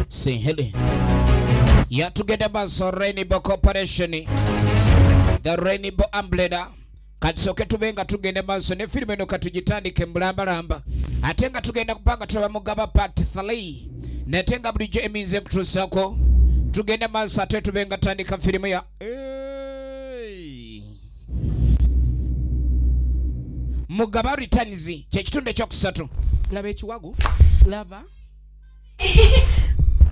Sehele ya tugenda maso Rainbow Corporation the Rainbow Umbrella katisoke tube nga tugenda maso ne filime eno katugitandike mulambalamba ate nga tugenda kupanga tulaba mugaba part 3 nate nga bulijjo eminza ekutuusako tugenda maso ate tube nga tandika filimu ya hey. mugaba returns kyekitundu ekyokusatu laba ekiwago laba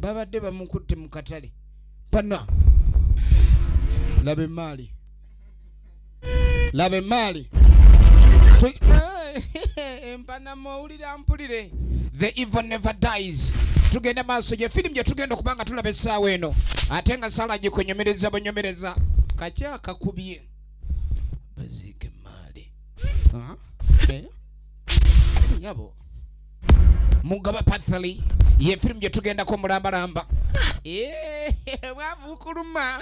babadde bamukutte mu katale pana laba emaali laba emaali empanamowuli mbabuulira mpulire the evil never dies tugende maaso gye firimu gye tugenda okuba nga tulaba essaawa eno ate nga sala gikunyumiriza bunyumiriza kaki akakubye baziike maali eh? nyabo mugaba pathali ye firimu gye tugendako mulambalamba eh, bwavukuluma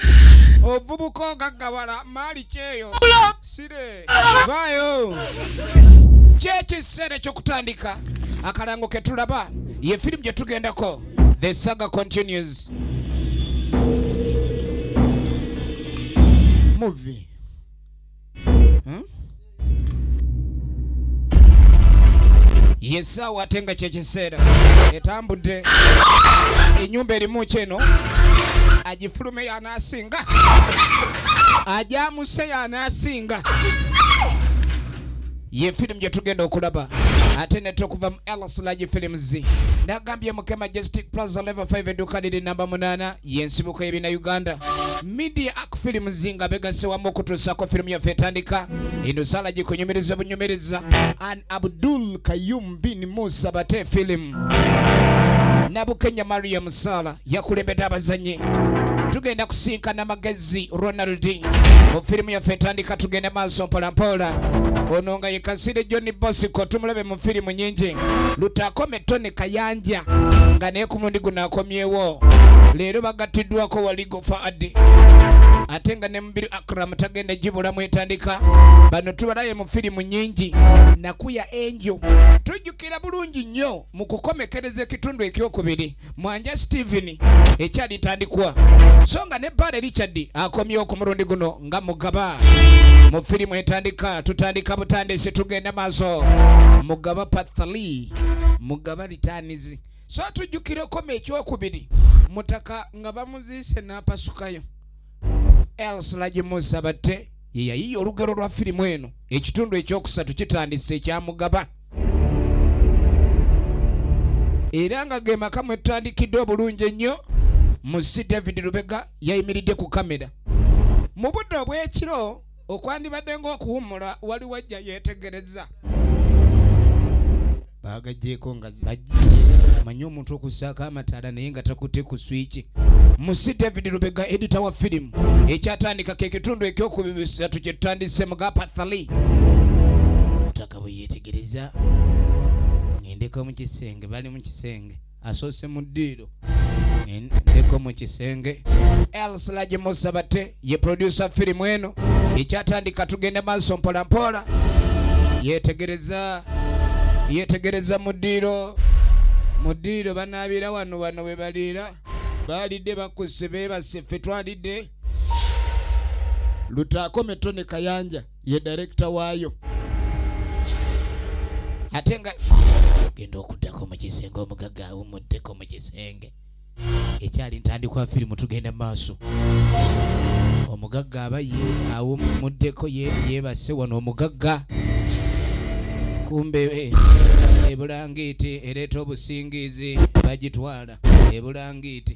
ovubuka ogagawala maali kyeyo vaayo kyekiseera ekyokutandika akalango ketulaba ye firimu gyetugendako the saga continues movie hmm? yesaawa ate nga kyekiseera etambudde enyumba erimu kyeno agifulume asinga ajamuse yanasinga ye firimu gye tugenda okulaba ate ne tukuva mu elslagi films nagambye muke majestic plaza level 5 edduka liri namba 8 yensibuko yebina uganda media ak films nga begase wamu okutuusako firimu yaffe etandika eno sala gikunyumiriza bunyumiriza an abdul kayum bin musa bate filimu nabukenya mariam sala yakulembedde abazanyi tugenda kusinkana magezi ronald mu firimu yaffe etandika tugende maaso mpolampola ono nga yekasire john bosco tumulabe mu firimu nyingi lutakome tony kayanja nga naye ku mundi guno akomyewo leero bagattiddwako waligo faadi ate nga ne mubiru akram tagenda gibulamu etandika bano tubalaye mu firimu nyingi nakuya enjo tujjukira bulungi nnyo mu kukomekereza ekitundu ekyokubiri Mwanja Steven ekyalitandikwa so nga ne Bbaale Richard akomyewo ku mulundi guno nga mugaba mu firimu etandika tutandika butandisi tugenda maaso mugaba pathali mugaba ritanizi so tujjukire okoma ekyokubiri mutaka nga bamuziise n'apasukayo else lagimusa batte yeyayiye olugero lwa firimu eno ekitundu ekyokusatu kitandise ekyamugaba era nga ge maka mwe tutandikiddwa obulungi ennyo musi david lubega yayimiridde ku kamera mu budde obw'ekiro okwandibadde ng'okuwummula wali wajja yeetegereza baagajjeeko nga bajjie manyi omuntu okussaako amataala naye nga takutte ku swiki musi david lubega edita wa firimu ekyatandika ke kitundu ekyokubisatu kye tutandise mu gapathali nga bwe yeetegereza ngendeko mu kisenge bali mu kisenge asoose mu ddiiro ngendeko mu kisenge elslagi musabate ye producer firimu eno ekyatandika tugende maaso mpolampola yeetegereza yeetegereza mu ddiiro mu ddiiro banaabira wano wano we baliira baalidde bakusse beebase ffe twalidde lutaakome tone kayanja ye director waayo ate nga genda okuddako mu kisenge omugagga awumuddeko mu kisenge ekyali ntandikwa firimu tugenda mu maaso omugagga aba ye awumuddeko yeebase wano omugagga kumbe eh, ebulangiiti ereeta obusingiizi bagitwala ebulangiiti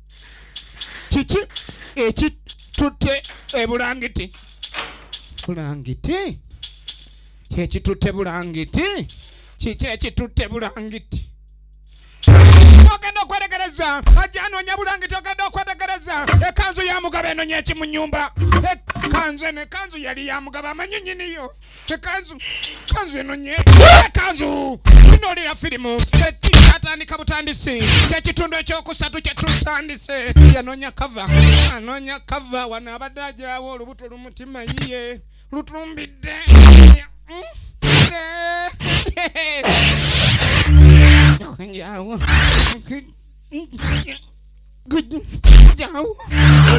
kiki ekitutte ebulangiti bulangiti kyekitutte bulangiti kiki ekitutte bulangiti ogenda okwetegereza ajja anoonya bulangiti ogenda okwetegereza ekanzu ya mugabo enonya ekimu nyumba ekanzu eno ekanzu yali ya mugabo amanyi nyiniyo kanzu kanzu eno nye kanzu tunoolera firimu atandika butandisi kyekitundu ekyokusatu kyetutandise yanonya kava anonya kava wano abadde ajawo olubuto lumutima yiye lutumbidde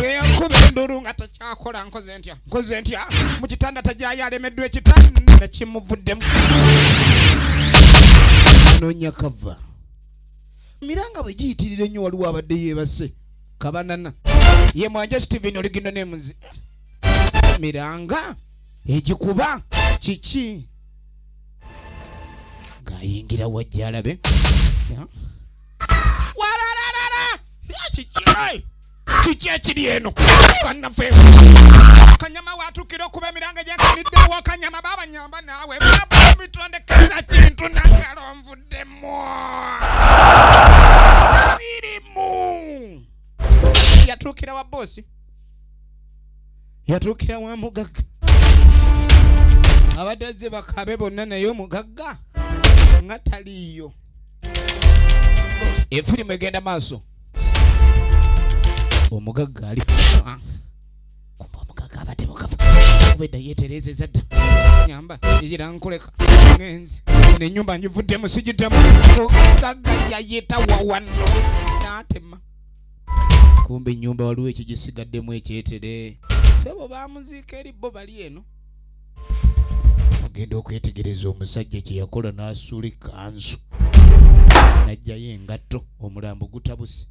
eyakuba enduru nga takyakola nkoze ntya nkoze ntya mu kitanda tajayo alemeddwa ekitanda kimuvuddemu nonya kava miranga bwe giyitirira ennyo waliwo abadde yeebase kabanana ye mwanja steven oligino nemuzi miranga egikuba kiki ng'ayingira wajja alabe yeah. kiki ekiri eno bannaffe kanyama watukira okuba emiranga gyakaniddewo kanyama babanyamba naawe bitondekerera kintu nangalo nvuddemu birimu yatuukira wa boosi yatuukira wa mugagga abadde azze bakabe bonna naye omugagga nga taliiyo efirimu egenda maaso omugagga ali ah. kumba omugagga abadde mukafu obedda yeetereezeza dda nyamba era nkoleka ngenzi nenyumba njivuddemu sigiddamu omugagga yayita wawano n'atema kumba ennyumba waliwo ekigisigaddemu ekyetere sebo bamuziika eri bo bali eno ogenda okwetegereza omusajja kye yakola n'asuula ekkanzu n'ajjayo engatto omulambo gutabuse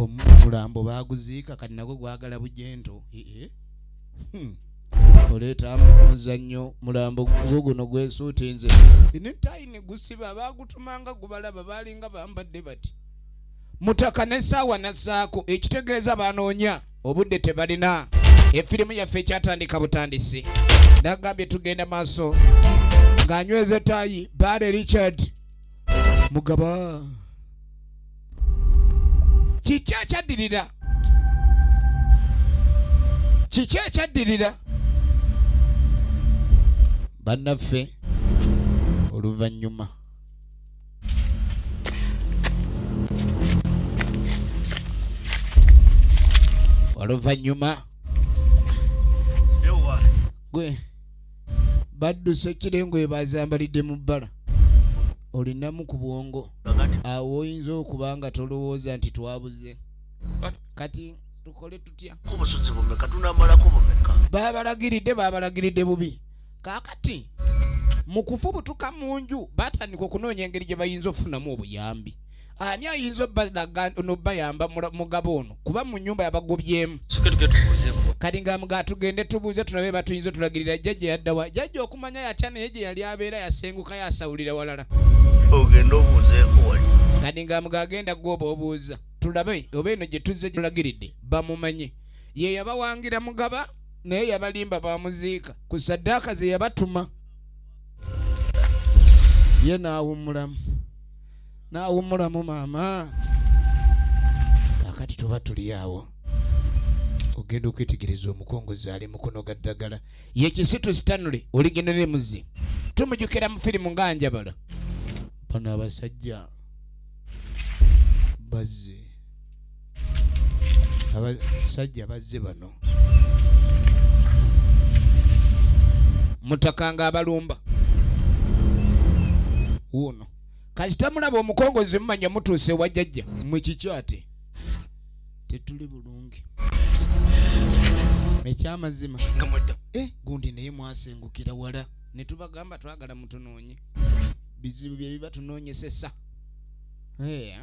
omulambo baaguziika kati nagwo gwagala bujento ee hmm. oleeta omuzannyo mulambo gwo guno gwesuutinze netayi ne gusiba baagutumanga gubalaba baalinga bambadde bati mutaka n'essaawa n'assaako ekitegeeza banoonya obudde tebalina efirimu yaffe ekyatandika butandisi nagambye tugenda maaso ng'anyweza etaayi baale richard mugaba kiki ekyaddirira kiki ekyaddirira bannaffe oluvannyuma oluvannyuma gwe badduse ekirengo ebazambalidde mu bbala olinamu ku bwongo awo oyinza okuba nga tolowooza nti twabuze kati tukole tutya babalagiridde babalagiridde bubi kaakati mu kufubutuka mu nju batandika okunoonya engeri gye bayinza okufunamu obuyambi ani ayinza nobayamba mugabo ono kuba mu nyumba yabagobyemu kati nga mga tugende tubuuze tulabe batuyinza otulagirira jjajja yaddawa jjajja okumanya yatya naye gye yali abeera yasenguka yasawulira walala ogenda obuuzeeko wali kati nga mga agenda gwoba obuuza tulabe oba eno gye tuzze tulagiridde bamumanye ye yabawangira mugaba naye yabalimba bamuziika ku saddaaka ze yabatuma ye naawummulamu naawummulamu maama kakati tuba tuli awo ogenda okwetegereza omukongozi ali mukono ga ddagala ye kisitu sitanule oligenda ne muzi tumujukira mu firimu nga njabala bano abasajja bazze abasajja bazze bano mutakanga abalumba wuuno kasita mulaba omukongozi mumanya mutuuse wa jajja mwe kikyo ate tetuli bulungi ekyamazima eh, gundi naye mwasengukira wala netubagamba twagala mutunoonye bizibu byebiba tunoonyesesa Eh.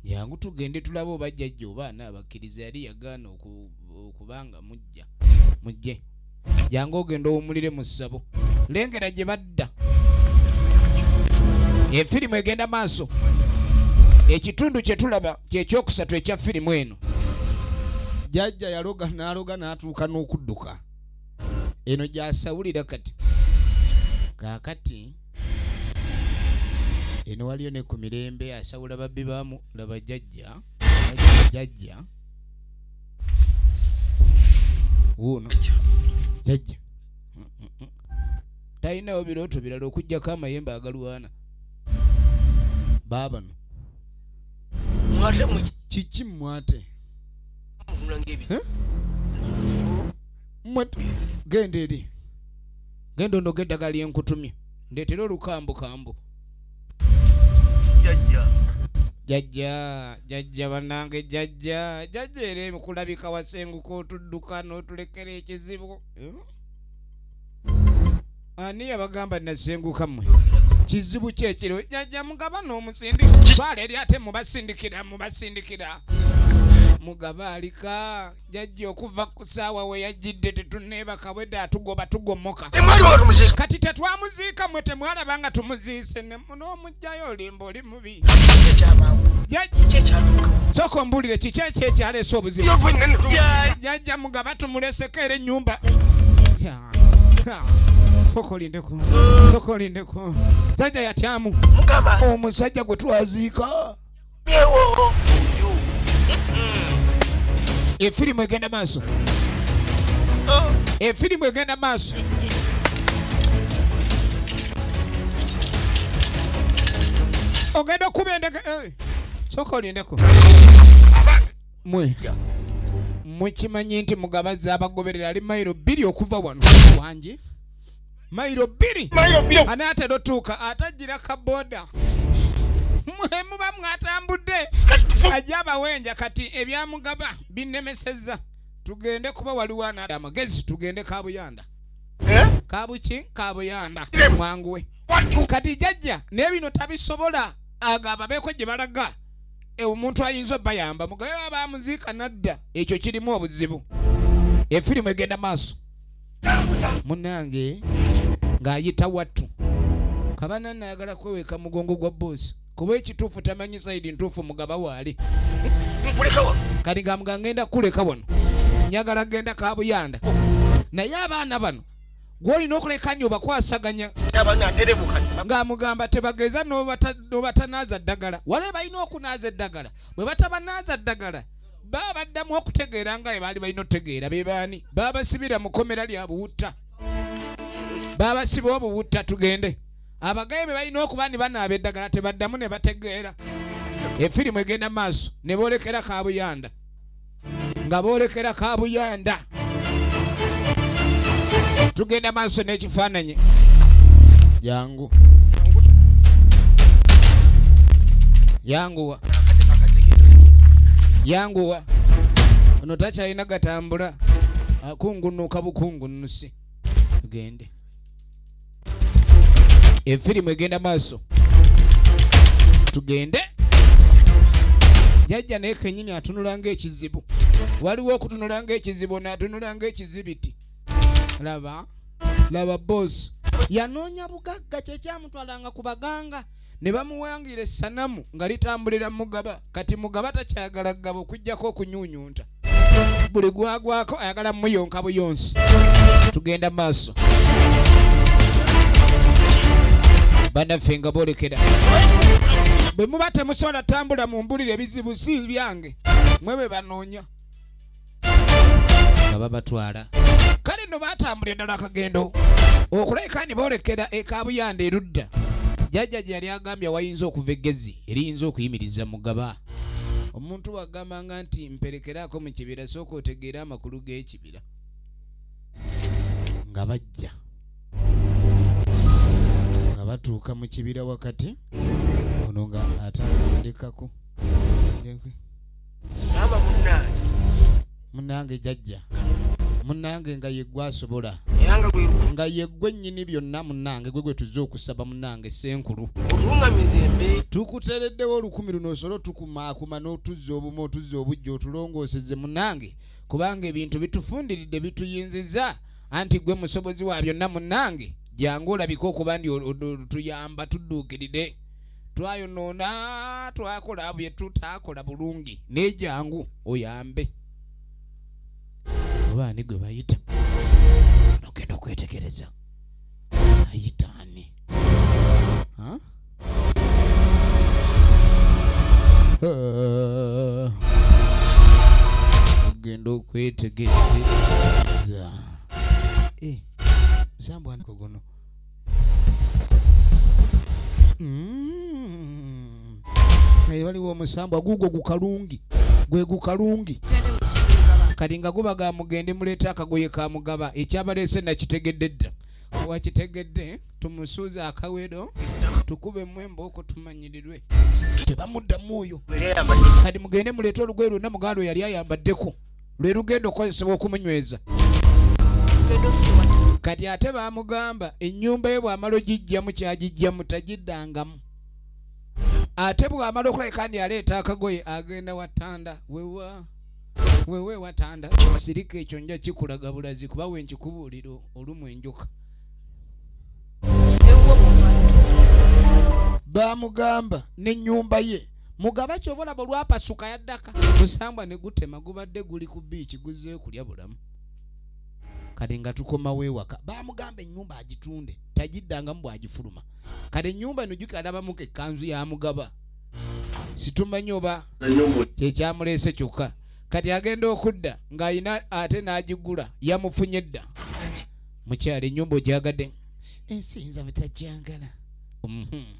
jangu tugende tulabe oba jjajja obaana abakkiriza yali yagaana okubanga mujja mujje jangu ogenda owumulire mu ssabo lengera gye badda efirimu egenda maaso ekitundu kye tulaba kyekyokusatu ekya firimu eno jajja yaloga n'aloga n'atuuka n'okudduka eno gyasawulira kati kaakati eno waliyo ne ku mirembe asawula babbi bamu laba jajja jajja wuuno jajja talinawo birooto birala okugyako amayembe agalwana baabano kiki mwate genda eri genda onoga eddagala lyenkutumye ndeetera olukambukambu jajja jajja jajja banange jajja jajja era ekulabika wasenguka otudduka n'otulekera ekizibu hmm? ani yabagamba nasenguka mwe kizibu kyekiro jajja mugaba n'omusindi baala eri ate mubasindikira mubasindikira mugaba alika jajja okuva ku saawa we yajjidde tetuneebaka bwedde atugoba tugomoka kati tetwamuziika mwe temwalaba nga tumuziise n'omugjayo olimba oli mubi soka ombuulire kiki ekyo ekyaleese obuzibu jajja mugaba tumuleseko era ennyumba sokolindeko sokolindeko jajja yatyamu omusajja gwe twaziika efirimu egenda maaso efirimu egenda maaso ogenda okuba endege eh, soka olindeko mwe mukimanye nti mugabazi abagoberera ali mayiro bbiri okuva wano wangi mailo bbiri anaatera otuuka ate ajjira ka boda mwemuba mwatambudde ajja abawenja kati ebyamugaba binnemesezza tugende kuba waliwo anaada amagezi tugende kabuyanda eh? kabuki kabuyanda eh. mwanguwe kati jajja naye bino tabisobola agamba beeko gye balaga e, omuntu ayinza obayamba mugabe babamuziika nadda ekyo kirimu obuzibu efirimu egenda maaso munange ng'ayita wattu kabana naagala kweweka mugongo gwa boosi kuba ekituufu tamanyi saidi ntuufu mugaba waali kati nga mga ngenda kuleka wano njagala genda kabuyanda oh. naye abaana bano gwolina okuleka nyo bakwasaganya ng'amugamba tebageza nobatanaaza ddagala wale balina okunaaza eddagala bwe batabanaaza ddagala baba baddamu okutegeera nga bwe baali balina otegeera be baani babasibira mu komera lya buwutta babasiba obuwutta tugende abagaye be balina okuba ni banaaba eddagala tebaddamu ne bategeera efirimu egenda maaso ne boolekera kabuyanda nga boolekera kabuyanda tugenda maaso n'ekifaananyi jangu yanguwa yanguwa ono takyalina gatambula akungunuka bukungunusi tugende efirimu egenda maaso tugende jajja naye kenyini atunula ngaekizibu waliwo okutunula ngaekizibu natunula ngaekizibiti laba laba bos yanoonya bugagga kyekyamutwalanga ku baganga ne bamuwangira essanamu nga litambulira mugaba kati mugaba takyagala kugaba okuggyako okunyunyunta buli gwagwako ayagala muyonka buyonsi tugenda maaso banaffe nga boolekera bwe muba temusobola tambula mu mbulira ebizibu si byange mwe be banoonya nga babatwala kale no baatambulira ddala akagendo okulabika ni boolekera ekabuyanda erudda jajja gye yali agambye wayinza okuva eggezi eriyinza okuyimiriza mugaba omuntu wagambanga nti mperekeraako mu kibira sooka otegeera amakulu g'ekibira nga bajja nga batuuka mu kibira wakati ono nga atandikako maama munnange munnange jajja munnange nga yeggwe asobola nga yeggwe nnyini byonna munnange gwe gwe tuzze okusaba munnange senkulu tukutereddewo olukumi luno osole otukumaakuma n'otuzza obumu otuzza obujja otulongooseze munnange kubanga ebintu bitufundiridde bituyinziza anti gwe musobozi wa byonna munnange jangu olabike okuba ndi tuyamba tudduukirire twayonoona twakola bye tutakola bulungi naye jangu oyambe oba ani gwe bayita nogenda okwetegereza ayita ani ogenda okwetegereza eh, musambwaniko guno Mm. naye waliwo omusambwa guugwo gukalungi gwe gukalungi kati nga guba ga mugende muleeta akagoye ka mugaba ekyabaleese nakitegedde dda wakitegedde tumusuuza akawedo tukube mwemba oko tumanyirirwe tebamuddamu oyo kati mugende muleeta olugoye lwonna muganda yali ayambaddeko lwe lugenda okukozesebwa okumunyweza kati ate baamugamba ennyumba ye bw'amala ogijjamu kyagijjamu tagiddangamu ate bw'amala okulabika ndi aleeta akagoye agenda watanda wewa wewe watanda sirika ekyo nja kikulaga bulazi kuba we nkikubuulira olumu enjuka baamugamba n'ennyumba ye mugaba kyova olaba olwapasuka yaddaka musambwa ne gutema gubadde guli ku biiki guzzeyo kulya bulamu kale nga tukomawo ewaka bamugamba ennyumba agitunde tagiddangamu bwagifuluma kale ennyumba eno juka alabamuko ekkanzu ya mugaba situmanyi oba kyekyamuleese kyokka kati agenda okudda ng'alina ate n'agigula yamufunye dda mukyalo ennyumba ogyagadde ensinza butagyagala mhm.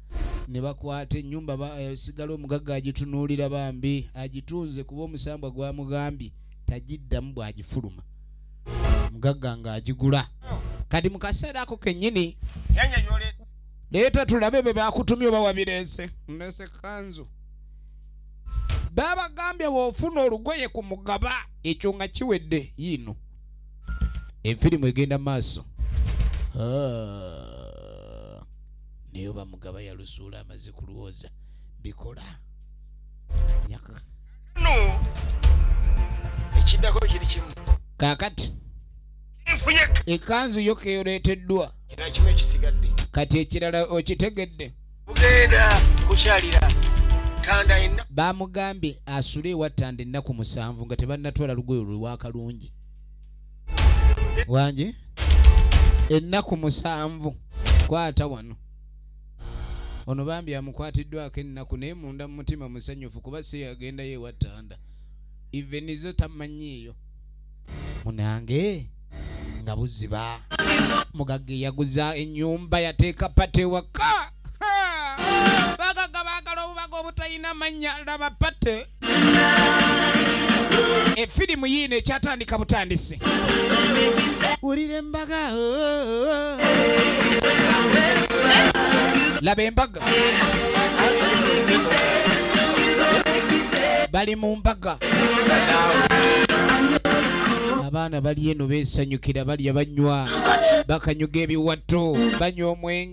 ne bakwata ennyumba eh, sigala omugagga agitunuulira bambi agitunze kuba omusambwa gwamugambye tagiddamu bw'agifuluma omugagga ng'agigula kati mu kaseera ako kennyini leeta tulabe be bakutumye oba wabireese nese kanzu babagambye bw'ofuna olugoye ku mugaba ekyo nga kiwedde yiino enfirimu egenda maaso ah. naye oba mugaba yalusuula amaze kulwooza bikola ekiddako kiri kimu kakati ekanzu yo keyoleeteddwa kati ekirala okitegedde ugenda kukyalira bamugambye asule ewa tanda ennaku musanvu nga tebannatwala lugoyo lwewakalungi wangi ennaku musanvu kwata wano ono bambi amukwatiddwako ennaku naye munda mumutima musanyufu kuba si yagendayo ewattanda ivenizo tamanyiiyo munange nga buziba mugagga eyaguza enyumba yateeka pate waka bagaga bagala obubaga obutalina mannya laba pate efirimu yiino ekyatandika butandisi wulira embaga laba embaga bali mu mbaga abaana bali eno beesanyukira balya banywa bakanyuga ebiwatto banywa omwenge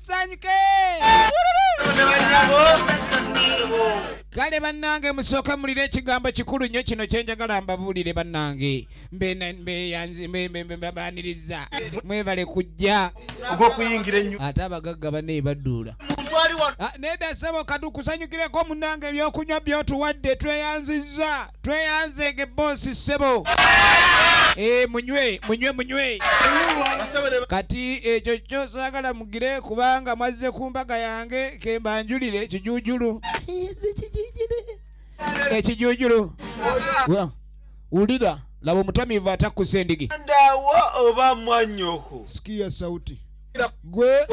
tusanyuke kale bannange musooke mulire ekigambo kikulu nnyo kino kyenjagala mbabuulire bannange mbebaniriza mwebale kujja ate abagagga bane baduula ah, nedasebo katukusanyukireko munange ebyokunywa byotuwadde tweyanzizza tweyanze nge bosi ssebo eh, munywe munywe munywe kati ekyo kyo sagala mugire kubanga mwazze ku mbaga yange kembanjulire ekijujulu ekijujulu wulira laba omutamiivu atakkusa endigi oba mwanyoko sikiya sauti gwe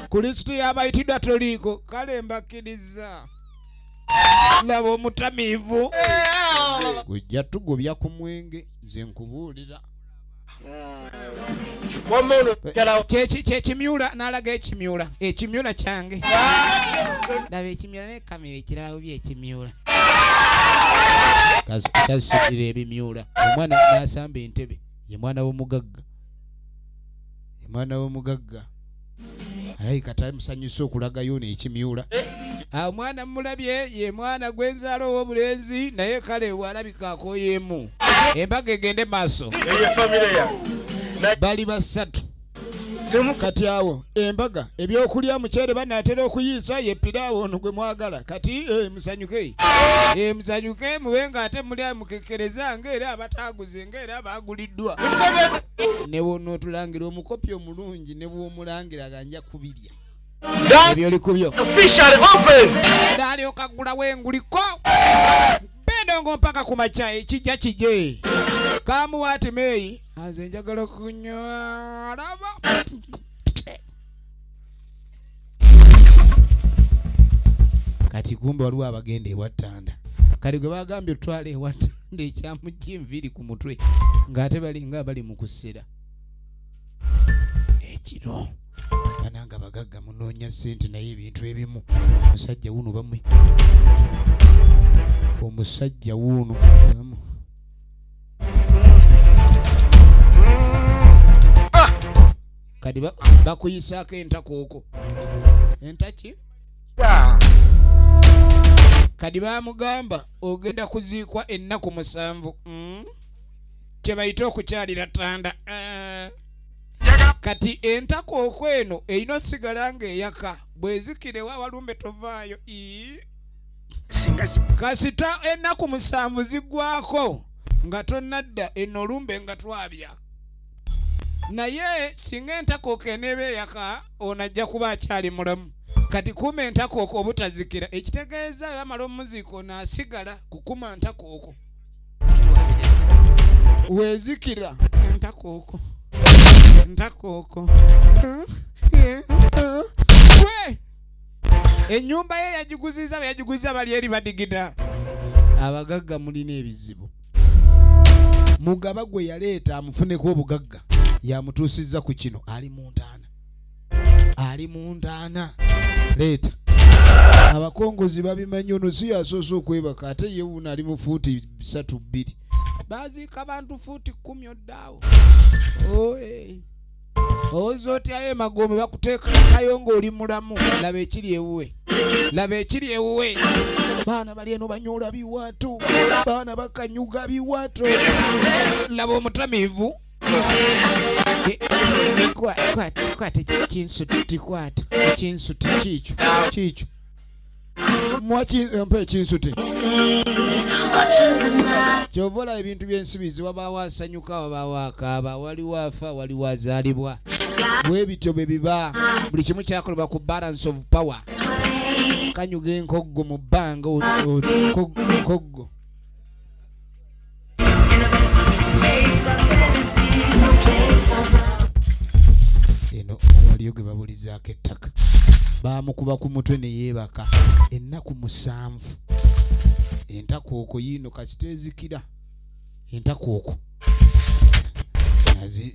kulisiti yabayitidwa toliiko kale mbakkiriza laba omutamiivu gujja tugubya ku mwenge nze nkubuulira kyekimyula nalaga ekimyula ekimyula kyange laba ekimyula nekamira ekirabo byekimyula sasukira ebimyula omwana nasamba entebe ye mwana womugagga ye mwana womugagga alabika taali musanyusa okulagayo ono ekimyula eh? ah, omwana mumulabye ye mwana gwenzaala ow'obulenzi naye kale walabika akoyeemu embaga egende maaso bali basatu kati awo embaga ebyokulya muceere banaatera okuyiisa ye piraawo ono gwe mwagala kati eh, musanyuke eh, musanyuke mube nga ate muli amukekkereza ngaera abataaguze ngaera baaguliddwa newono otulangira omukopi omulungi bulungi ne bw'omulangira nga nja kubirya ebyoli ku byo nalyoka ggulawo enguliko bendongo mpaka ku makya ekijja kije kamuwaati meeyi aze njagala kunywa laba kati kumbe waliwo abagenda ewattanda kati gwe bagambye otwala ewattanda ekyamujja enviiri ku mutwe ng'ate balinga bali mu kusera ekiro bananga abagagga munoonya sente naye ebintu ebimu omusajja wuno bamwe omusajja wuno bamu kati bakuyisaako entakooko entaki kadi bamugamba ogenda kuziikwa ennaku musanvu mm? kyebayita okukyalira tanda eh. kati entako okweno erina osigala nga eyaka bwezikirewo awalumbe tovaayo kasita ennaku musanvu zigwako nga tonadda eno olumbe nga twabya naye singa entakooko eneeba eyaka ono ajja kuba akyali mulamu kati kuma entakooko obutazikira ekitegeeza bamala omuziiko naasigala kukuma ntakooko wezikira ntakooko ntakooko enyumba ye yagiguziza yagiguziza bali eri badigida abagagga mulina ebizibu mugaba gwe yaleeta amufuneko obugagga yamutuusizza ku kino ali mu ntaana ali mu ntaana leeta abakongozi babimanyi ono si yasoose okwebaka ate ye wuno ali mu fuuti bisatu bbiri baziika bantu fuuti kkumi oddaawo owoza otyayo emagombe bakuteekakayo ng'oli mulamu laba ekiri ewuwe laba ekiri ewuwe baana bali eno banyoola biwato baana bakanyuga biwato laba omutamiivu kwata ekinsuti tikwata ekinsuti kiikyo kiikyo mwakimpa ekinsuti kyova olaba ebintu byensibizi wabaawo asanyuka wabaawo akaaba waliwo afa waliwo azaalibwa bwe bityo bwe biba buli kimu kyakolebwa ku balance of power kanyuga enkoggo mu bbanga nkoggo eno waliyo gwe babulizaako ettaka baamukuba ku mutwe ne yeebaka ennaku musanvu entakooko yiino kasita ezikira entakooko nazi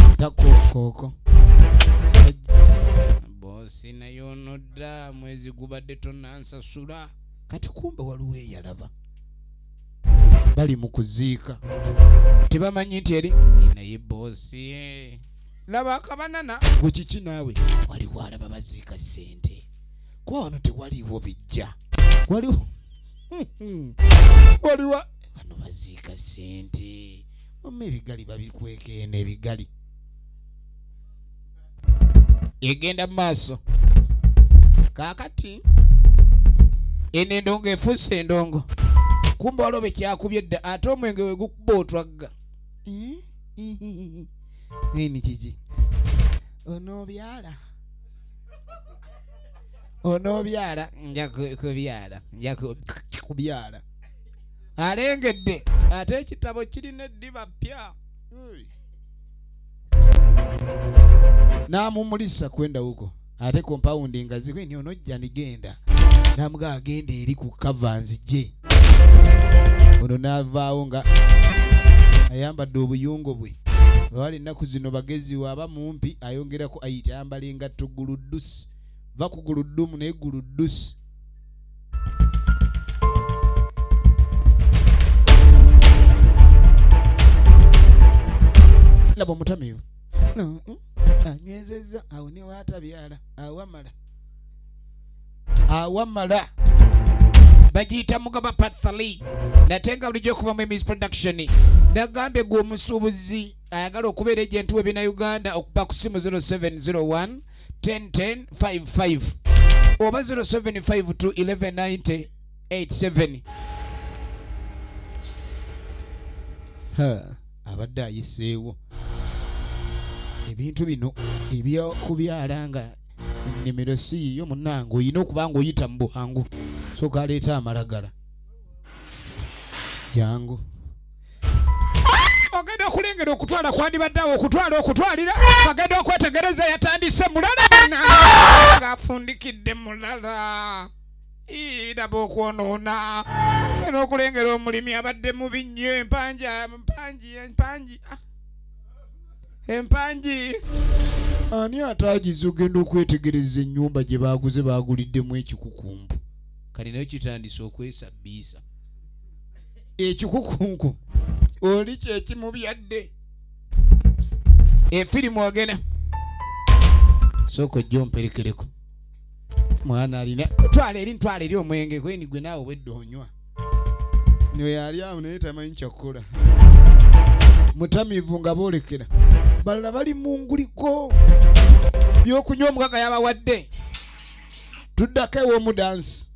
entakooko boosi naye onodda mwezi gubadde tonansasula kati kumbe waliwo eyalaba bali mu kuziika tebamanyi nti eri naye boosi eh. laba akabanana gwe kiki naawe waliwo alaba baziika ssente kuba wano tewaliwo bijja waliwo waliwo bano baziika ssente omu ebigali babikwekeena ebigali egenda mu maaso kaakati eno endongo efuuse endongo kumba waliwo bekyakubye dda ate omwenge we gukuba otwagga nini kiki onoobyala onoobyala nja kubyala nja kubyala alengedde ate ekitabo kirina eddiba ppya n'amumulisa kwenda huko ate kompawundi nga zikwe ni onojja nigenda namuga agenda eri ku kava nzije ono n'avaawo nga ayambadde obuyungo bwe bawali ennaku zino bagezi waaba mumpi ayongerako ayita ayambala engatto guluddusi va ku guluddumu naye guluddusi laba omutamiyo mm, anywezezza awo niwaatabyala awamala awamala bagiyita mugaba pathali nate nga bulijjo okuva mu emis production nagambye gwe omusuubuzi ayagala okubeera egyentuwa ebina uganda okuba ku simu 0701 101055 oba 0752119087 abadde ayiseewo ebintu bino ebyokubyala nga ennimiro si yiyo munange olina okuba nga oyita mu buhangu sooka aleeta amalagala jangu ogenda okulengera okutwala kwandibadde awo okutwala okutwalira agenda okwetegereza yatandise mulala ng'afundikidde mulala iraba okwonoona era okulengera omulimi abadde mubi nnyo empanji empanji empanji ah. empanji ani ataagiza ogenda okwetegereza ennyumba gye baaguze baaguliddemu ekikukumbu kati nayo kitandise okwesabbiisa ekikukunku oli kyekimubyadde efirimu agena sooka ojja omperekereko mwana alina twala eri ntwala eri omwenge kweni gwe naawe obwedde onywa noyali awo naye tamanyi kyakukola mutamivu nga boolekera balala bali mu nguliko byokunywa omugaga yabawadde tuddako ew'omudansi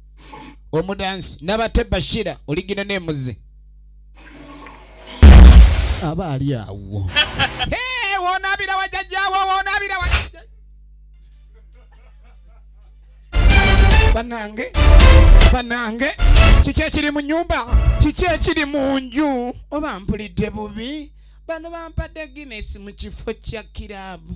omudansi nabate bashira oligina nemuzi aba ali awo wonabira wajajjawo wonabira wajajja banange banange kiki ekiri mu nyumba kiki ekiri mu nju oba mpulidde bubi bano bampadde guinness mu kifo kya kiraabu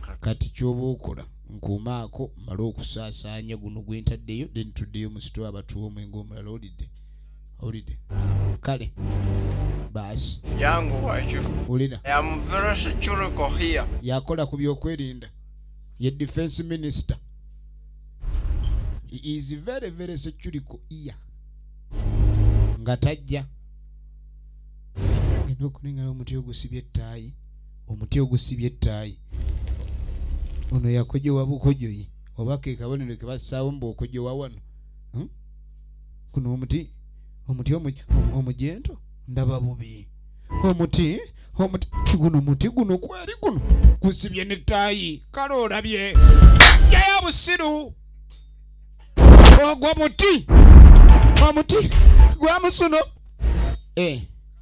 kakati kyoba okola nkuumaako male okusaasaanya guno gwe ntaddeyo then tuddeyo mu sitwa abatuwa omwenge omulala olidde olidde kale baasi yangu wakyo olina yakola ku byokwerinda ye defense minister he is very very securico ear nga tajja ngenda okulengala omuti ogusibye ettaayi omuti ogusibye ettaayi ono yakojowa bukojoyi oba ke kabonero ke bassaawo mbu okojowa wano hmm? kuno omuti omuti omujento ndaba bubi omuti omuti guno muti guno kweri guno gusibye n'ettaayi kale olabye jayo busiru ogwo muti omuti gwamusuno eh.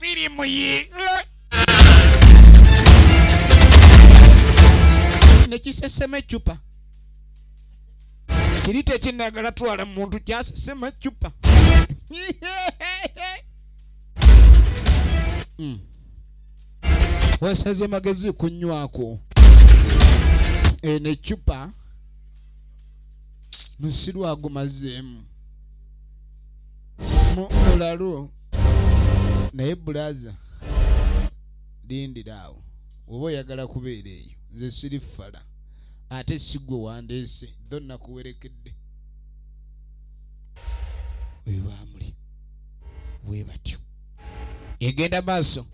firimu yi nekisesema ecupa kiri tekinagala twala muntu kyasesema ecupa hmm. wasaze magezi kunywako eno eh, ecupa musiru agumazeemu mulalu naye bulaza lindira awo oba oyagala kubeera eyo nze siri fala ate sigwe wandeese tho nakuwerekedde oyo bamuli bwe batyo egenda maaso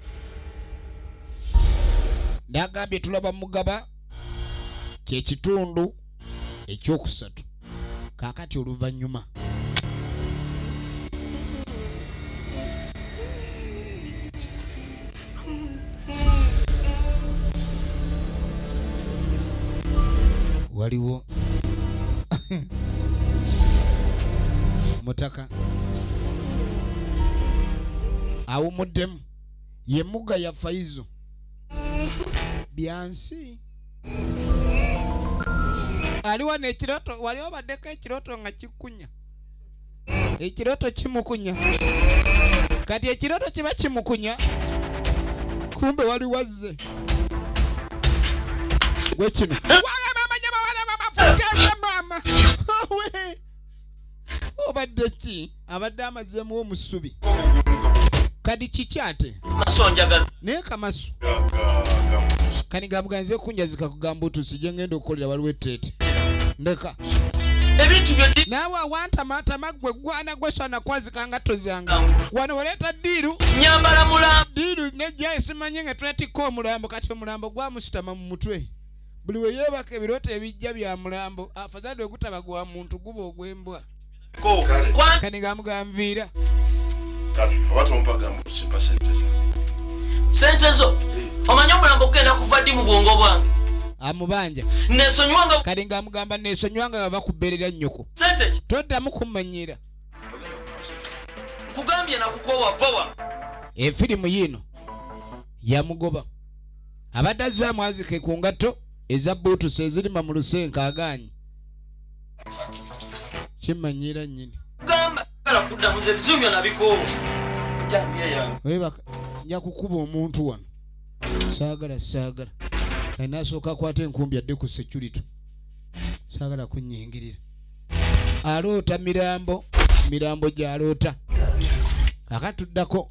nagambye tulaba mugaba kyekitundu ekyokusatu kakati oluvannyuma waliwo mutaka awumuddemu yemuga ya faizo byansi aliwa nekiroto wali obaddeko ekiroto nga kikunya ekiroto kimukunya kati ekiroto kiba kimukunya kumbe wali wazze gwe kino obadde ki abadde amazeemu omusubi kadi kiki ate naye kamasu kani gamuganze kunjazika kugamba otusi gyengenda okukolera waliwo eteete ndeka naawe awantamatama gwe gwana gwesana kwazika nga tozanga wano waleeta diiru diiru nejja esimanye nga twetikka omulambo kati omulambo gwamusitama mu mutwe buli we yeebaka ebirooto ebijja bya mulambo afadhali ogutaba gwa muntu guba ogw'embwa kani gamuganviira sente zo eh. omanyi omulambo okugenda kuva ddi mu bwongo bwange amubanja nesonywanga kali nga amugamba nesonywanga nga bakuberera nyoko sente toddamu kumanyira nkugambye nakukowa vowa efirimu yiino yamugoba abadde azze amwazike ku ngatto eza buutusi ezirima mu lusenka agaanyi kimmanyiira nnyini nja kukuba omuntu wano saagala saagala kali nasooka akwata enkumbi adde ku security saagala kunyingirira aloota mirambo mirambo gyaloota akatuddako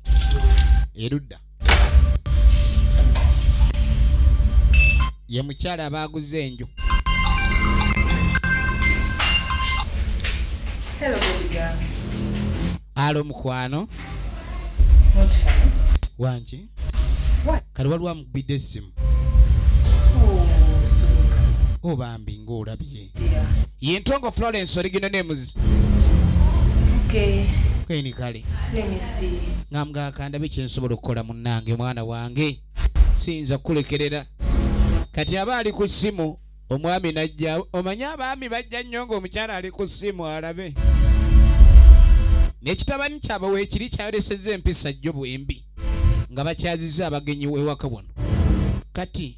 erudda ye mukyala abaaguza enju alo mukwano wangi kali waliwo amukubidde essimu oh, oh, bambi ngaolabye Yentongo Florence original names. Okay. Kweni kale. Let me see. Ngamga akanda biki nsobola okukola munnange mwana wange. Siyinza kukulekerera. Kati aba ali ku simu omwami najja omanyi abaami bajja nnyo ng'omukyala ali ku simu alabe. N'ekitabani kyabwe weekiri kyayolesezza empisa jjo bwembi nga bakyazizza abagenyi ewaka wano. Kati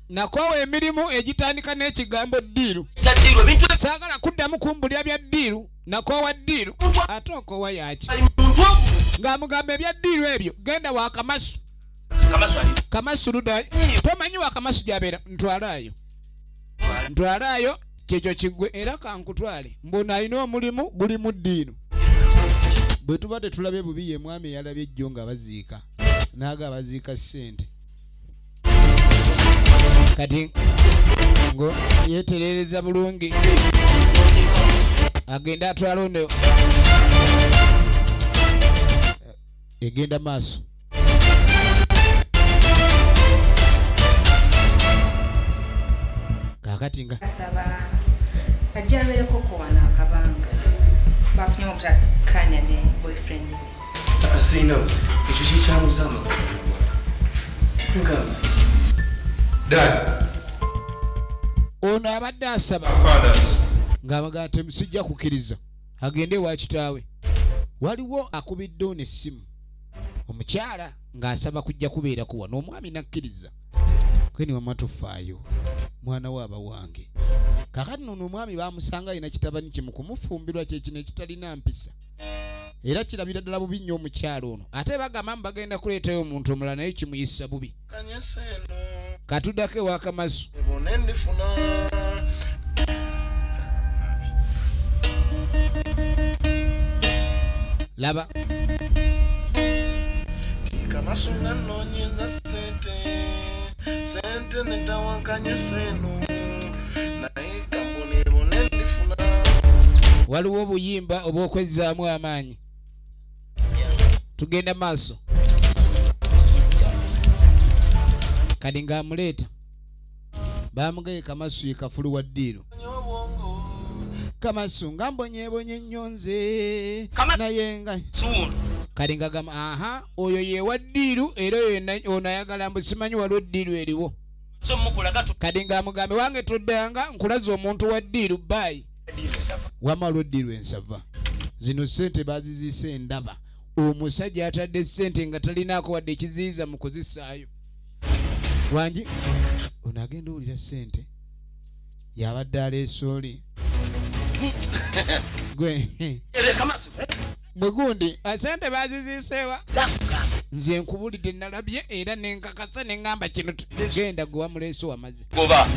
nakwawa emirimu egitandika n'ekigambo ddiiru saagala kuddamu kumbulira bya ddiiru nakoowa ddiiru ate okoowa yaki ng'amugamba ebya ddiiru ebyo genda wa kamasu kamasu ludayo tomanyi wa kamasu gyabeera ntwalaayo ntwalaayo kyekyo kiggwe era kankutwale mbona alina omulimu guli mu ddiiru bwe tuba tetulabye bubi ye mwami eyalabye ejjo nga baziika naaga abaziika ssente kati ngo yeterereza bulungi agenda atwala ono eh, egenda maaso kakati nga asaba ajja abeereko kowana akabanga bafunye obutakanya ne boyfriend ono abadde asaba ng'abaga ati musijja kukiriza agende ewa kitaawe waliwo akubidde ono essimu omukyala ng'asaba kujja kubeera kuwa n'omwami nakkiriza kweni wama tufaayo mwana we aba wange kakati nono omwami bamusanga alina kitabani kimu kumufumbirwa kyekino ekitalina mpisa era kirabira ddala bubi nnyo omukyalo ono ate bagamba mu bagenda kuleetayo omuntu omulala naye kimuyisa bubi katudako ewakamazu laba sente netawankanye seno naye kambonebone ndifuna waliwo obuyimba obwokwezzaamu amaanyi tugenda maaso kati ngaamuleeta baamugaye kamasu ye kafulu wa ddiiro kamasu nga mbonyebonye nnyo nze naye nga kati ngagamba aha oyo yewa ddiiru era oyo ono ayagala mbu simanyi waliwo ddiiru eriwo kadi nga amugambe wange toddanga nkulaza omuntu wa ddiiru baayi wama waliwo ddiiru ensava zino sente baziziisa endaba omusajja atadde sente nga talinaako wadde ekiziyiza mu kuzisaayo wangi ono agenda owulira sente yabadde aleesooli gwe mwe gundi ah, sente baziziiseewa zakugamba nze nkubulidde nalabye era nenkakasa neŋŋamba kino genda gwe wamuleese wamaze goba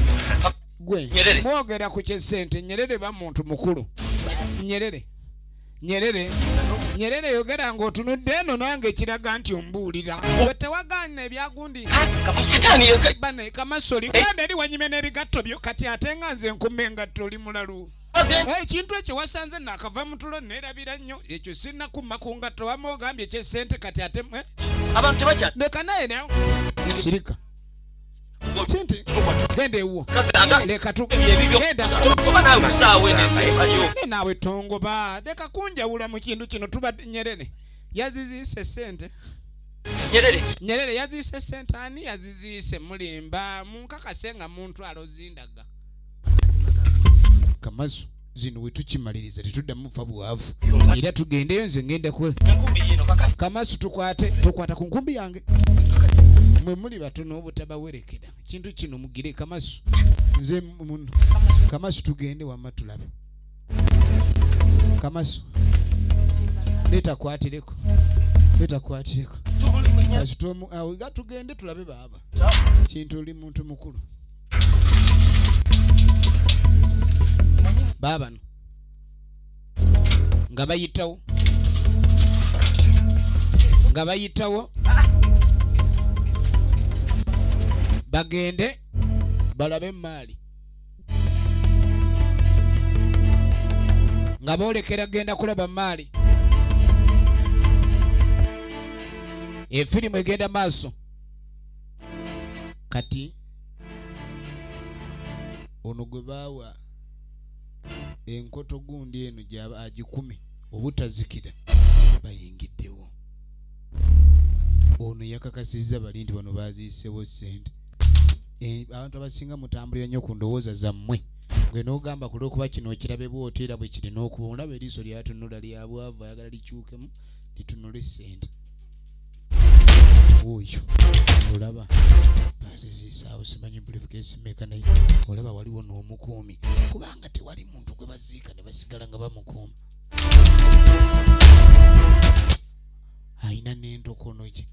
gwe mwogera ku kyesente nyerere ba muntu mukulu nyerere nyerere nyerere yogera ng'otunudde eno nange ekiraga nti ombuulira we tewagaana ebyagundi kamasoli kanda eri wanyime n'ebigatto byo kati ate nga nze nkume engatto oli mulalu ekintu ekyo wasanze nakava mutulo nerabira nnyo ekyo sirina kumma ku ngatto wama ogambye ekyesente kati ate eh? abantu tebakya leka naye nawe sirika sente genda ewuwo leka tugendaenawe tongoba leka kunjawula mu kintu kino tuba nyerere yaziziise sente nyerere nyerere yaziise sente ani yaziziise mulimba munkakase nga muntu alozindaga kamazu zino wetukimaliriza tetuddamu mufa bwavu era tugendeyo nze ngenda kwe kamasu tukwate tukwata ku nkumbi yange mwe muli batono obutabawerekera kintu kino mugire kamasu nze muno kamasu tugende wamma tulabe kamasu letakwatireko letakwatireko kasitomu awo gatugende tulabe baaba kintu oli muntu mukulu baabano nga bayitawo nga bayitawo bagende balabe emaali nga boolekera genda kulaba maali efirimu egenda maaso kati ono gwe baawa enkoto gundi eno gyaba agikume obutazikira bayingiddewo ono yakakasizza bali nti bano baziisewo sente eh, abantu abasinga mutambulira nnyo ku ndowooza zammwe gwe nogamba ku lwokuba kino okirabe bwoti era bwe kirina okuba olaba eriiso lyatunula lyabwavu ayagala likyukemu litunule sente oyo olaba azizisaawo simanyi bulifukeesi meeka naye olaba waliwo n'omukuumi kubanga tewali muntu gwe baziika ne basigala nga bamukuuma alina n'endokono gye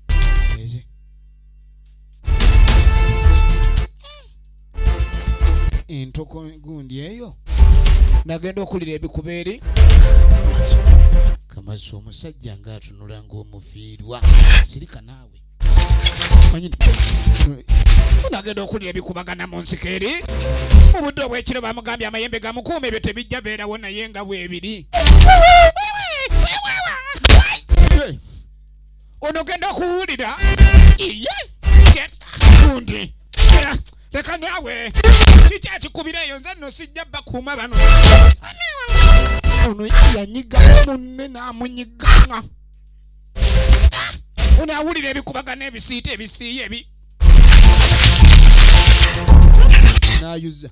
entoko gundi eyo nagenda okulira ebikuba eri kamazi omusajja nga atunula ngaomufiirwa sirika naawe nagenda okulira ebikubagana mu nsiko eri mu budde obwekiro bamugambye amayembe gamukuuma ebyo tebijja beerawo naye nga bwebiri ono genda kuwulira iye gundi leka naawe kiki akikubira eyo nze no sijja bakuuma bano ono yanyiga munne n'amunyiganga ono awulira ebikubagana ebisiita ebisiiya ebi nayuza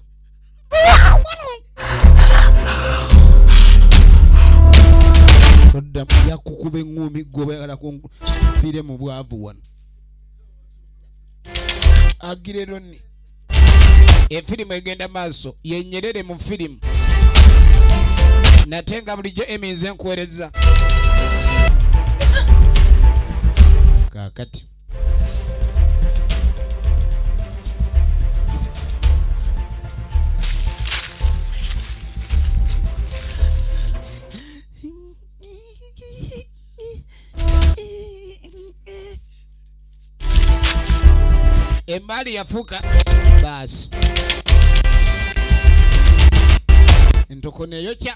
toddamu yakukuba eŋŋuumi gwe oba yagala kunfiire mu bwavu wano agireroni efirimu egenda maaso yenyerere mu firimu nate nga bulijjo eminze nkuwereza kakati Emali yafuka basi ntukuneyo kya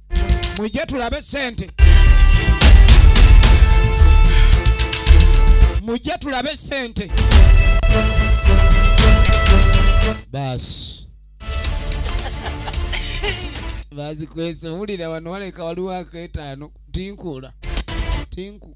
mujje tulabe sente mujje tulabe sente baasi bazikwese wulira wano waleka waliwo aketaano tinkuula tinku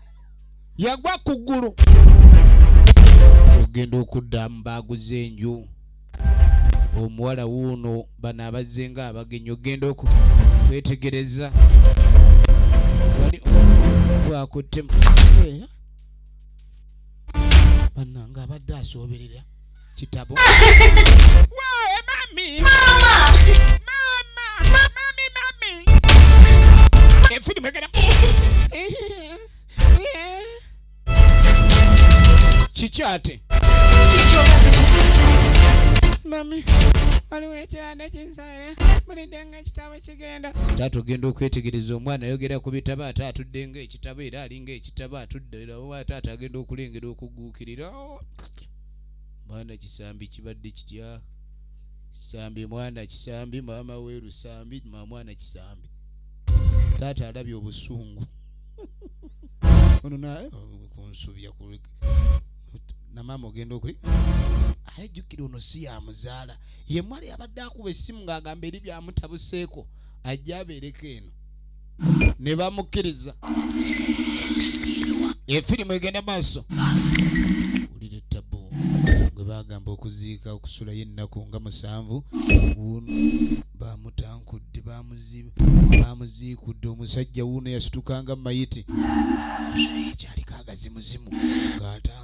yagwa ku ggulu ogenda okuddamu baaguze enju omuwala wuuno bano abazze nga abagenyi ogenda okwetegereza wali wakuttemu eh? bananga abadde asooberera kitabo kikyate mami waliwo ekibanda kinsaire mulidde nga ekitabo kigenda taata ogenda okwetegereza omwana ayogera ku bitabo ate atudde nga ekitabo era alinga ekitabo atudde era taata agenda okulengera okuguukirira mwana kisambi kibadde kitya kisambi mwana kisambi maama we lusambi ma mwana kisambi taata alabye obusungu ono naye eh, kunsubya na maama ogenda okuli alejjukira ono si yamuzaala ye mwali abadde akuba essimu ng'agamba eri byamutabuseeko ajja abeereko eno ne bamukkiriza efirimu egenda maaso wulira ettabu gwe bagamba okuziika okusulayo ennaku nga musanvu bamutankudde bamuziikudde omusajja wuuno yasitukanga mayiti akyaliko agazimuzimu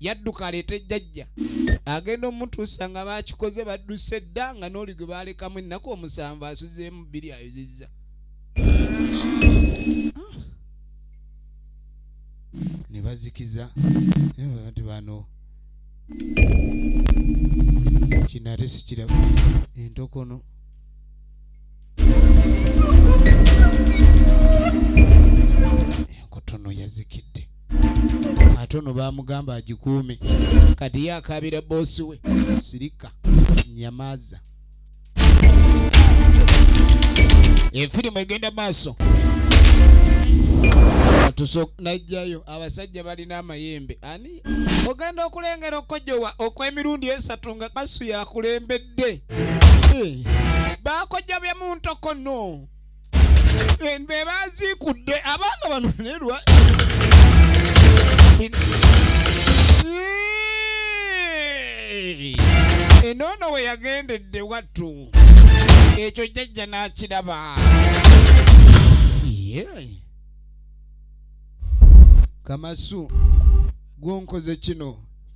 yadduka aleete jjajja agenda omutuusa nga bakikoze badduse dda nga n'oli gwe baalekamu ennaku omusanvu asuzeemu bbiri ayuzizza ne bazikiza abantu bano kino ate sikiraba entokono enkotono yazikidde ate ono bamugamba agikuume kati ye akaabira boosi we sirika nyamaaza efirimu egenda maaso najjayo abasajja balina amayembe ani ogenda okulengera okukojowa okw'emirundi esatu nga kasu yakulembedde eh, bakojja byemuntokono be bazikudde abaana bano nerwa enoono we yagendedde wattu ekyo jjajja n'akiraba kamasu gwonkoze kino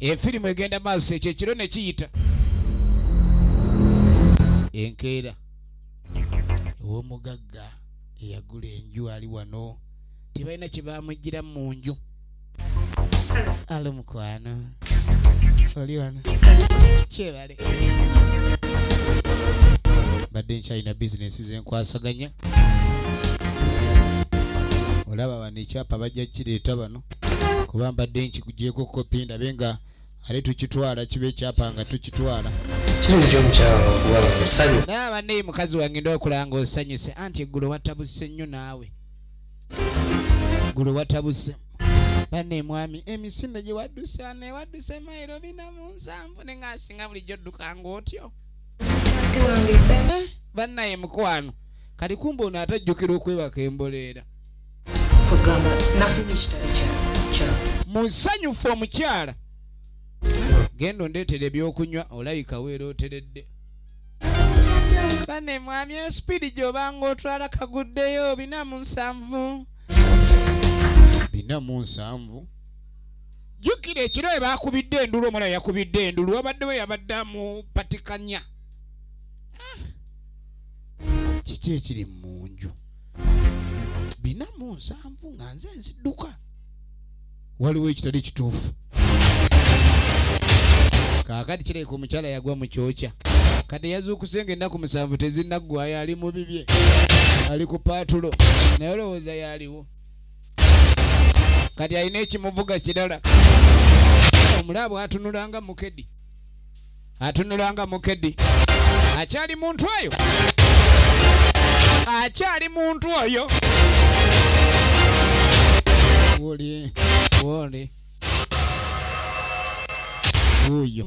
efirimu egenda maaso ekyo ekiro ne kiyita enkeera ew'omugagga eyagula enju ali wano tebalina kye bamujjira mu nju alo mukwano oli wano kyebale badde nkyalina bizinesi zenkwasaganya olaba bano ekyapa bajja kireeta bano kuba mbadde nkikugyeko kopi ndabe nga ate tukitwala kiba ekyapa nga tukitwala naye abaneyi mukazi wange ndokulanga osanyuse anti eggulo watabuse nnyo naawe eggulo watabuse bane mwami emisinde eh, gyewaddusa newadduse mairo bina mu nsanvu ne ngaasinga bulijjo oddukanga otyo eh, bannaye mukwano kati kumba ono atajjukira okwebaka emboleera musanyufu omukyala genda ondeetera ebyokunywa olabika weerooteredde bane mwami esipiidi gy'obanga otwala kaguddeyo bina mu nsanvu bina mu nsanvu jjukira ekiro we baakubidde endulu omwana yakubidde endulu wabadde we yabadde amupatikanya ah. kiki ekiri mu nju bina mu nsanvu nga nze nziduka waliwo ekitali kituufu kaakati kireka omukyala yagwa mu kyokya kati yazuukuse nga ennaku musanvu tezinaggwayo ali mu bibye ali ku paatulo naye olowooza yaaliwo kati alina ekimuvuga kirala omulaabu atunulanga mukedi atunula nga mukedi akyali muntu oyo akyali muntu oyo woli woli uyo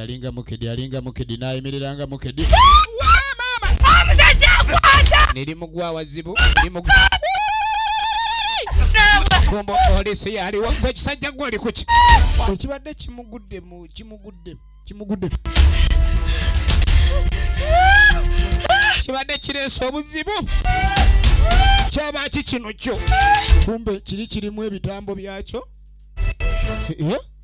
alinga mukidi alinga mukidi nayimirira nga mukidi nerimugwa wazibu kumbo polisi yaliwo gwe ekisajja gwe oli kuki ekibadde kimuguddemu kimuguddemu kimuguddemu kibadde kireese obuzibu kyaba ki kino kyo kumbe kiri kirimu ebitambo byakyo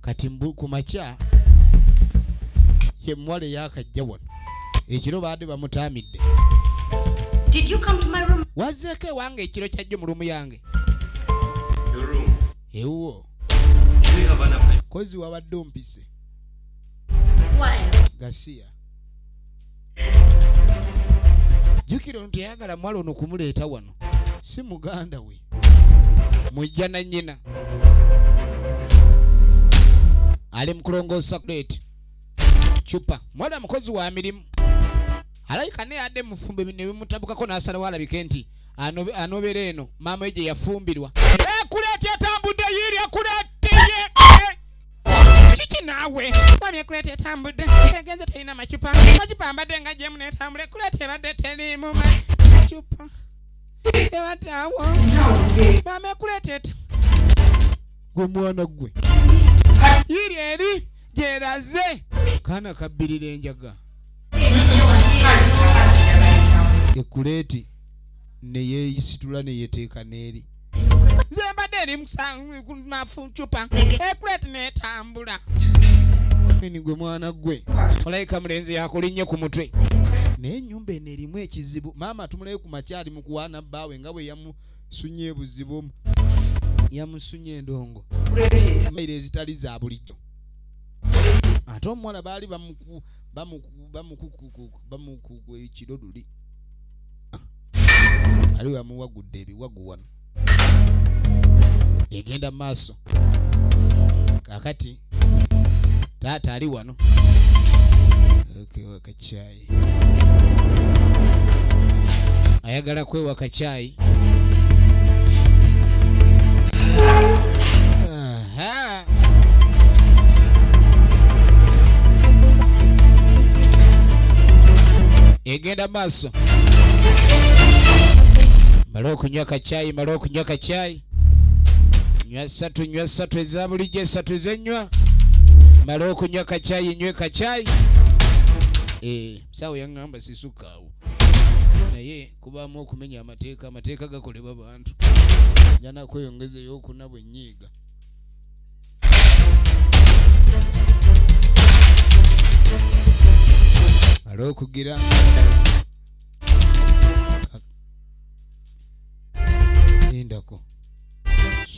kati ku makya ye muwala eyakajja wano ekiro baadde bamutaamidde wazzeeko ewange ekiro kyajjo mu lumu yange ewuwo kozi wabadde ompise gasiya jukira ono teyagala mwala ono kumuleeta wano si muganda we mujja na nyina ali mukulongoosa kuleeti cupa mwana mukozi wa mirimu alayika naye adde mufumbe nebimutabukako n'asalawo alabike nti anobera eno maama egye yafumbirwa ekuleti etambudde yiiri ekuleti kiki naawe wabye ekuleta etambudde egenze terina macupa macupa mbadde nga gyemu netambula ekuleta ebadde teriimu macupa ebadde awo mama ekuleta eta gwe mwana gwe yiri eri gyeraze kaana kabbirira enjaga ekuleti neyeyisitula neyeteeka neeri nze mbadde eri mucupa ekulet netambula ni gwe mwana gwe olayika mulenzi yakulinnye ku mutwe naye enyumba eno erimu ekizibu maama tumulayo ku makyali mu kuwaana bbaawe nga bwe yamusunye ebuzibu omu yamusunye endongo maire ezitali za bulijjo ate omuwala baali bamukukuekiro luli aliwo yamuwagudde ebiwagu wano egenda maaso kakati taata ali wano kwewa kacyayi ayagala kwewa kacyayi egenda maaso mala okunywa kacyayi mala okunywa kacyayi nywa satu nywa satu eza bulijjo esatu ezenywa mala okunywa kacyayi nywe kacyayi eh, sawo yaŋŋamba sisukaawo naye kubaamu okumenya amateeka amateeka gakolebwa bantu njana kweyongezeyo okuna bwenyiiga ali okugira lindako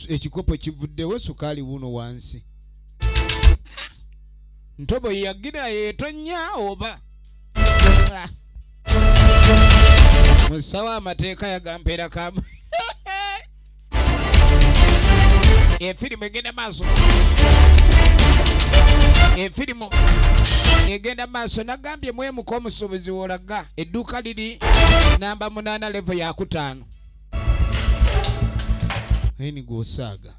ekikopo kivuddewo sukaali wuno wansi ntobo yagira yetonya oba musawo amateeka yagampeera kamu efirimu egenda maaso efirimu egenda maaso nagambye mwemuka omusuubuzi wolaga edduuka liri namba munana levo yakutaano ayi nigwosaaga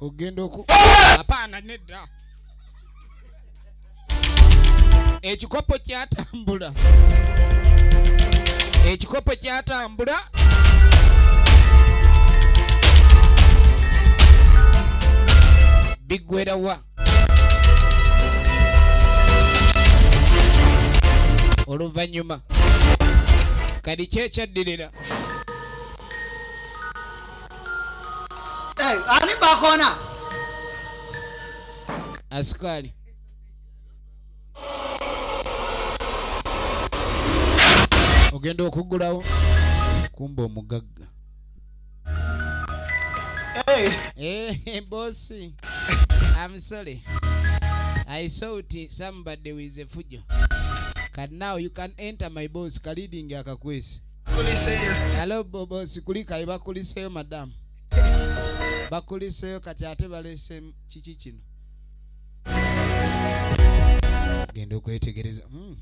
ogenda oku apaana nedda ekikopo kyatambula ekikopo kyatambula biggwerawa oluvannyuma kadi kyekyaddirira eh, ani bakona asukali ogenda okugulawo kumba omugagga Hey. Hey, eh, boss. I'm sorry. I saw it somebody with a fujo. But now you can enter my boss kalidingi akakwesi. Kuliseyo. Hello boss kulika ibakuliseyo madam. Bakuliseyo kati ate balese kiki kino. Genda okwetegereza. Mm.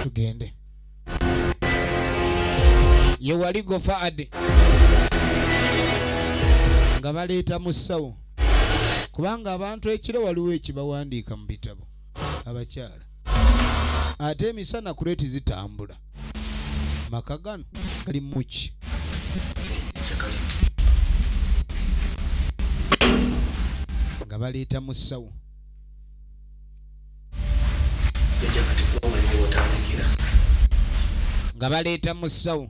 Tugende. ye wali gofaade nga baleeta mu ssawo kubanga abantu ekiro waliwo ekibawandiika mu bitabo abakyala ate emisana kuleti zitambula maka gano gali muki nga baleeta mu ssawo nga baleeta musawo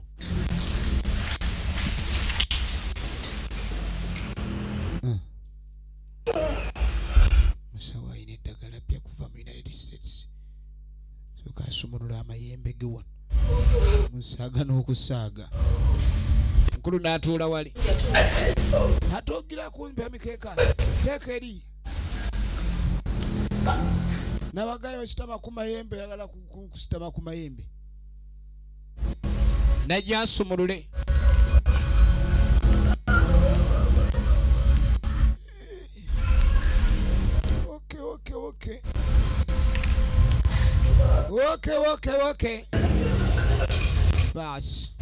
musawo alina eddagala pya kuva mu united states soka asumulula amayembe ge wano musaaga n'okusaaga mukulu n'atuula wali atogira kumpi emikeeka teeka eri nabagayo bakitama ku mayembe yagala kusitama ku mayembe najja nsumulule okay, okay, okay. Woke woke woke. Basi.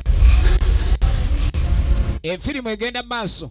Efirimu egenda maaso.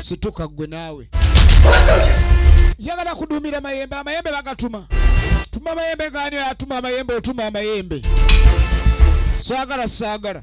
situka gwe naawe yagala kudumira mayembe amayembe bagatuma tuma mayembe gani atuma amayembe otuma amayembe sagala sagala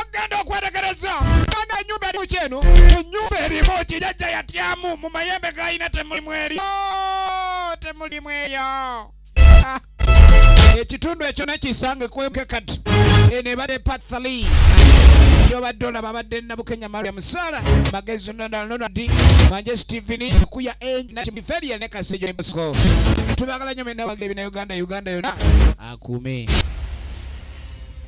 ogenda okwetegereza ana enyumba erimu kyeno enyumba erimu kijajja yatyamu mu mayembe galina temulimu eri oh, temulimu eyo ah. ekitundu ekyo nekisange kwemke kati eno ebadde pathali yobadde olaba abadde nabukenya maria musala magezi nonalonadi manje steven kuya enakimiferia ne kasejo ne bosco tubagala nyo mena wagere bina uganda uganda yona akume